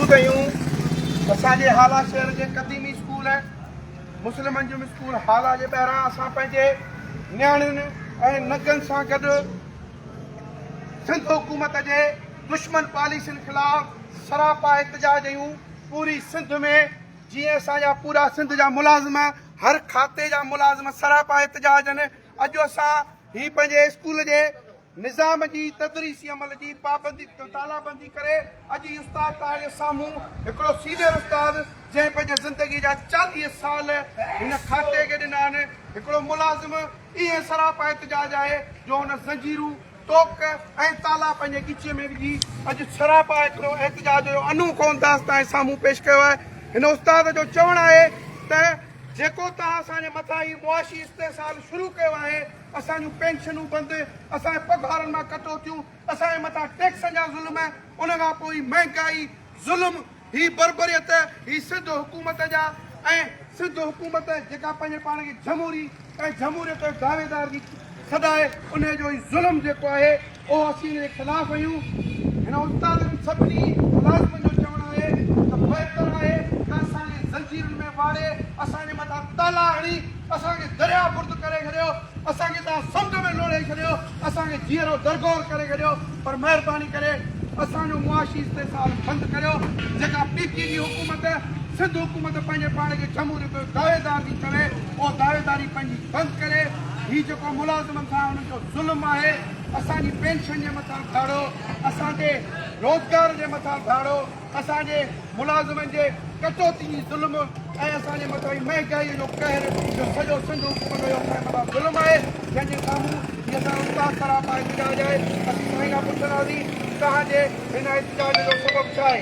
موجود هيون اسان جي هالا شهر جي قديمي اسڪول مسلم انجم اسڪول هالا جي ٻاهران اسان پنهنجي نياڻين ۽ نگن سان گڏ سنڌ حڪومت جي دشمن پاليسين خلاف سراپا احتجاج هيون پوري سنڌ ۾ جي اسان جا پورا سنڌ جا ملازم هر کاتي جا ملازم سراپا احتجاج اڄ اسان هي پنهنجي اسڪول جي نظام جي تدريسي عمل جي پابندي تالابندي ڪري اڄ هي استاد توهانجي سامهون هڪڙو سينئر استاد جنهن پنهنجي زندگي جا چاليهه سال هن کاتي کي ڏنا آهن هڪڙو ملازم ائين سراپا احتجاج آهي جو هن زنجيرون ٽوڪ ۽ تالا پنهنجي ڳچيء ۾ وجهي اڄ سراپا هڪڙو احتجاج جو انوکو انداز توهانجي سامهون پيش ڪيو آهي هن استاد جو چوڻ آهي ته جيڪو توهان اسان جي مٿان هي معاشي استحصال شروع ڪيو آهي اسان جون پينشنون بند، اسان جي پگهارن مان ڪٽوتيون، اسان جي مٿان ٽيڪسن جا ظلم، ان کان پوء هي مهنگائي، ظلم، هي بربريت، هي سنڌ حڪومت جا ۽ سنڌ حڪومت جيڪا پنهنجي پاڻ کي جمهوري ۽ جمهوريت جو دعويدار ٿي سڏائي انهي جو هي ظلم جيڪو آهي، اهو اسين ان جي خلاف آهيون. هن استاد جي سڀني ملازمن جو چوڻ آهي ته بهتر آهي ته اسان کي زنجيرن ۾ واڙي اسان جي مٿان تالا هڻي اسان کي درياهه برد ڪري ڇڏيو، اسان کي توهان سمنڊ ۾ لوڙهي ڇڏيو، اسان کي جيئرو درگور ڪري ڇڏيو پر مهرباني ڪري اسان جو معاشي استحصال بند ڪريو جيڪا پي پي جي حڪومت سنڌ حڪومت پنهنجي پاڻ کي جمهوريت جو دعويدار ٿي چوي اهو دعويداري پنهنجي بند ڪري هي جيڪو ملازمن سان هنن جو ظلم آهي. اسان جي پينشن جي مٿان ڌاڙو، اسان جي روزگار جي مٿان ڌاڙو، اسان جي ملازمن جي ڪٽوتي جي ظلم ۽ اسان جي مٿان مهنگائي جو قهر جو سڄو سنڌ حڪومت جو اسان جي مٿان ظلم آهي جنهن جي سامهون هي اسان جو استاد سراپا احتجاج آهي اسين سائين کان پڇنداسين توهان جي هن احتجاج جو سبب ڇا آهي؟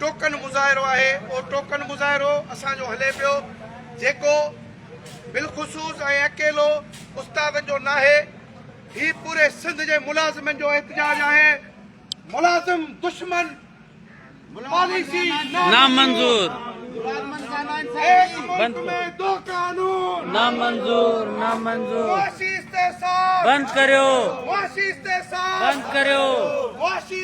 ٽوڪن مظاهرو آهي اهو ٽوڪن مظاهرو اسان جو هلي پيو جيڪو بالخصوص ۽ اڪيلو استادن جو ناهي هي پوري سنڌ جي ملازمن جو احتجاج آهي ملازم دشمن پاليسي نامنظور نامنظور نامنظور بند ڪريو بند ڪريو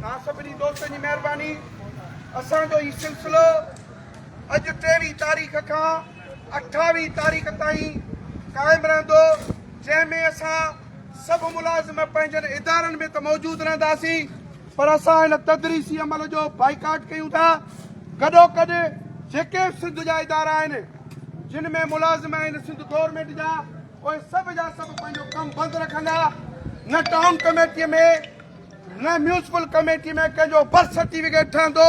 توهان سڀني دوستن جي مهرباني اسان جو هي سلسلو اڄ ٽيويهين تاريخ کان اٺاويهين تاريخ تائين قائم رهندو جنهن ۾ اسان سڀ ملازم پنهنجن ادارن ۾ ته موجود رهنداسين پر اسان هن تدريسي عمل جو بائيڪاٽ ڪيون ٿا گڏو گڏ جيڪي سنڌ جا ادارا آهن جن ۾ ملازم آهن سنڌ گورنمنٽ جا اهي سڀ جا سڀ پنهنجو ڪم بند رکندا نه ٽائون ڪميٽي ۾ نه ميونسپل ڪميٽي ۾ ڪنهن جو برٿ سرٽيفڪيٽ ٺهندو،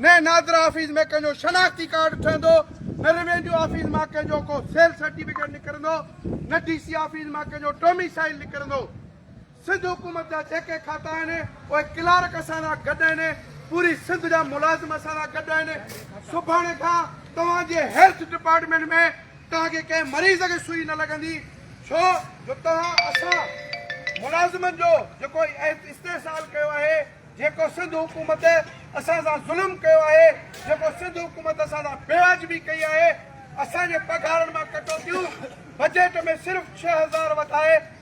نه نادرا آفيس ۾ ڪنهن جو شناختي ڪارڊ ٺهندو، نه روينيو آفيس مان ڪنهن جو ڪو سيل سرٽيفڪيٽ نڪرندو، نه ڊي سي آفيس مان ڪنهن جو ڊوميسائيل نڪرندو. سنڌ حڪومت جا جيڪي کاتا آهن، اهي ڪلارڪ اسان سان گڏ آهن، پوري سنڌ جا ملازم اسان سان گڏ آهن. سڀاڻي کان توهان جي هيلٿ ڊپارٽمينٽ ۾ توهان کي ڪنهن مريض کي سوئي نه لڳندي ڇو جو توهان اسان ملازمن جو جيڪو استحصال ڪيو آهي جيڪو سنڌ حڪومت اسان سان ظلم ڪيو آهي جيڪو سنڌ حڪومت اسان سان بيواجبي ڪئي آهي اسان جي پگهارن مان ڪٽوتيون بجيٽ ۾ صرف ڇهه هزار وڌائي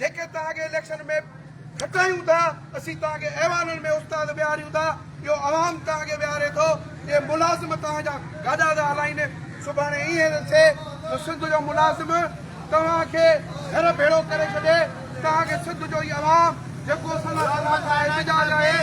جيڪي توهان کي اليڪشن ۾ کٽايون ٿا اسين توهان کي ايوانن ۾ استاد ويهاريون ٿا اهو عوام توهان کي ويهاري ٿو اهي ملازم توهان جا گاڏا ٿا هلائين سڀاڻي ائين ٿو ٿئي جو سنڌ جو ملازم توهان کي گهر ڀيڙو ڪري ڇڏي توهان کي سنڌ جو هي عوام جيڪو سندس احتجاج آهي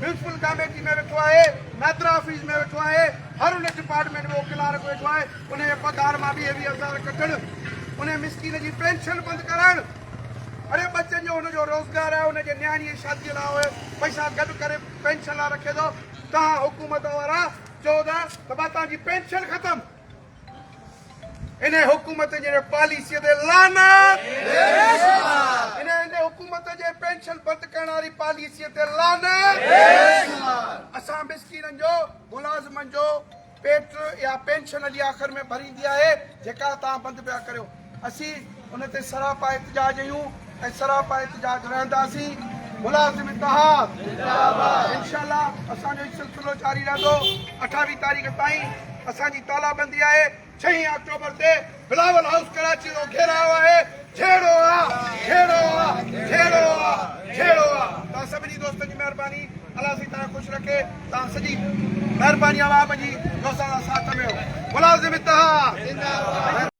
پرنسپل ڪاميٽي ۾ ويٺو آهي، نادرا آفيس ۾ ويٺو آهي، هر ان ڊپارٽمينٽ ۾ ڪلارڪ ويٺو آهي، ان جي پگهار مان ويهه ويهه هزار ڪٽڻ، ان مسڪين جي پينشن بند ڪرائڻ، اڙي ٻچن جو هن جو روزگار آهي، هن جي نياڻي جي شادي لاء اهي پئسا گڏ ڪري پينشن لاء رکي ٿو، توهان حڪومت وارا چئو ٿا ته ڀا توهان جي پينشن ختم. انهي حڪومت جي پاليسي تي لعنت. انهي حڪومت جي پينشن بند ڪرڻ واري پاليسي تي لعنت. اسان مسڪينن جو ملازمن جو پيٽ يا پينشن علي آخر ۾ ڀريندي آهي جيڪا توهان بند پيا ڪريو. اسين ان تي سراپا احتجاج ايون ۽ سراپا احتجاج رهنداسين ملازم اتحاد زنداباد انشاء الله اسان جو هي سلسلو جاري رهندو اٺاويهه تاريخ تائين اسان جي تالابندي آهي ڇهين آڪٽوبر تي بلاول هائوس ڪراچي جو گهيراء آهي جهيڙو آ جهيڙو آ جهيڙو آ جهيڙو آ تان سڀني دوستن جي مهرباني الله سي تان خوش رکي تان سڄي مهرباني عوام جي جو اسان ساٿ ۾ ملازم اتحاد زنداباد